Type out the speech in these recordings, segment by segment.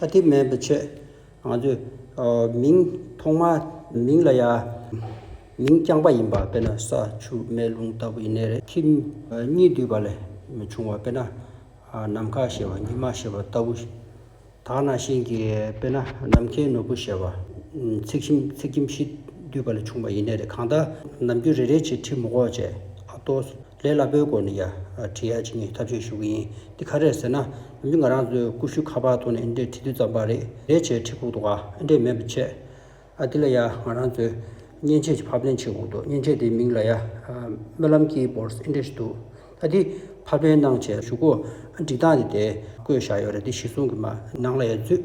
ད་དེ་མེད་པའི་ཆེད་ང་ཚོས་མིང་ཐོག་མ་མིང་ལ་ཡང་མིང་རྐྱང་པ་ཡིན་པ་དཔེར་ན་ས་ཆུ་མེ་རླུང་ལྟ་བུ་ཡིན་ནའི་རེད་ཁྱིམ་གཉིས་འདུས་པ་ལས་མི་བྱུང་བ་དཔེར་ན་ནམ་མཁའ་ཞེས་པ་ཉི་མ་ཞེས་པ་ལྟ་བུ་དག་ན་ཤིང་གི་དཔེར་ན་ནམ་མཁའི་ནོར་བུ་ཞེས་པ་ཚིག་ཁྱིམ་ཚིག་ཁྱིམ་བཞི་འདུས་པ་ལས་བྱུང་བ་ཡིན་ནའི་རེད་གང་ལྟར་ནམ་རྒྱུན་རེ་རེ་བྱས་ཁྲི་མོ་གོག་བྱས་ཨ་ཏོ། ལས་སླ་པོའི་སྐོར་ནི་ཡ། བྲིས་ཡ་བྱེད་ངེས་ཐག་གཅོད་ཞུ་གི་ཡིན། འདི་ག་རེད་ཟེར་ན། འོན་ཀྱི་ང་རང་ཚོའི་ཀུ་ཤུ་ཁ་པར་ཐོག་ནས་འདྲེ་ཁྲི་བདུན་ཙམ་པར་རེད། རེད་བྱས་ཁྲི་ཁུག་ཏུ་ཨ་འདྲེ་མེད་པར་བྱས། ཨ་འདི་ལ་ཡ་ང་རང་ཚོའི། མཉེན་ཆས་ཀྱི་ཕབ་ལེན་བྱེད་ཁུག་འདུག་མཉེན་ཆས་དེའི་མིང་ལ་ཡ། སྨོན་ལམ་ཀི་བོར་སི་འདྲེ་ཞིག་འདུག་ཨ་འདི། ཕབ་ལེན་གནང་བྱས་བཞུགས་སྒོ། འགྲིག་སྟངས་དེ་དེ། བཀོད་བཞག་ཡོད་རེད་འདི་གཞི་བཟུང་གི་མ། ནང་ལ་ཡ་འཛུད།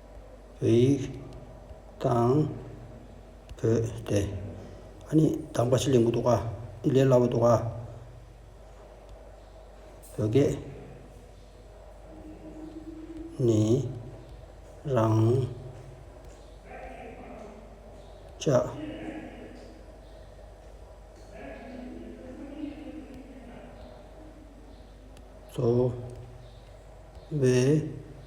བོད་ཡིག་དང། བོད་དེ། ཨ་ནི་དང་པ་ཞིག་ལེན་གི་འདུག་ག། འདི་ལས་སླ་བོ་འདུག་ག། བོད་སྐད། ནི། རང། ཅག། ཚོ། བའི།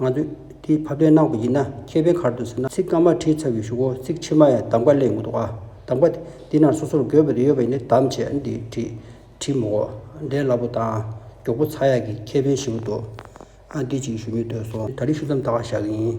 ང་ཚོས་དེའི་ཕབ་ལེན་གནང་བ་ཡིན་ན་མཁས་པའི་ཁར་དུ་ཟེར་ན་ཚིག་སྔ་མ་བྲིས་ཚར་བའི་ཞུ་སྒོ་ཚིག་ཕྱི་མ་ཡང་གདམ་ཀ་ལས་འདུག་གདམ་ཀ་དེ་དེ་ན་སོ་སོར་འགོད་པ་དེ་ཡོད་པ་ཡིན་ནི་གདམ་བྱས་འདི་བྲིས་བྲིས་མོ་འོག་འགྲེལ་སླ་པོ་དང་མགྱོགས་པོ་ཚར་ཡག་གི་ཁྱད་ཕན་ཞིག་འདུག་ཨ་འདི་གཅིག་ཞུ་མི་འདོད་སོང། ད་རེས་ཞུ་མཚམས་བཏགས་བཞག་ཡིན།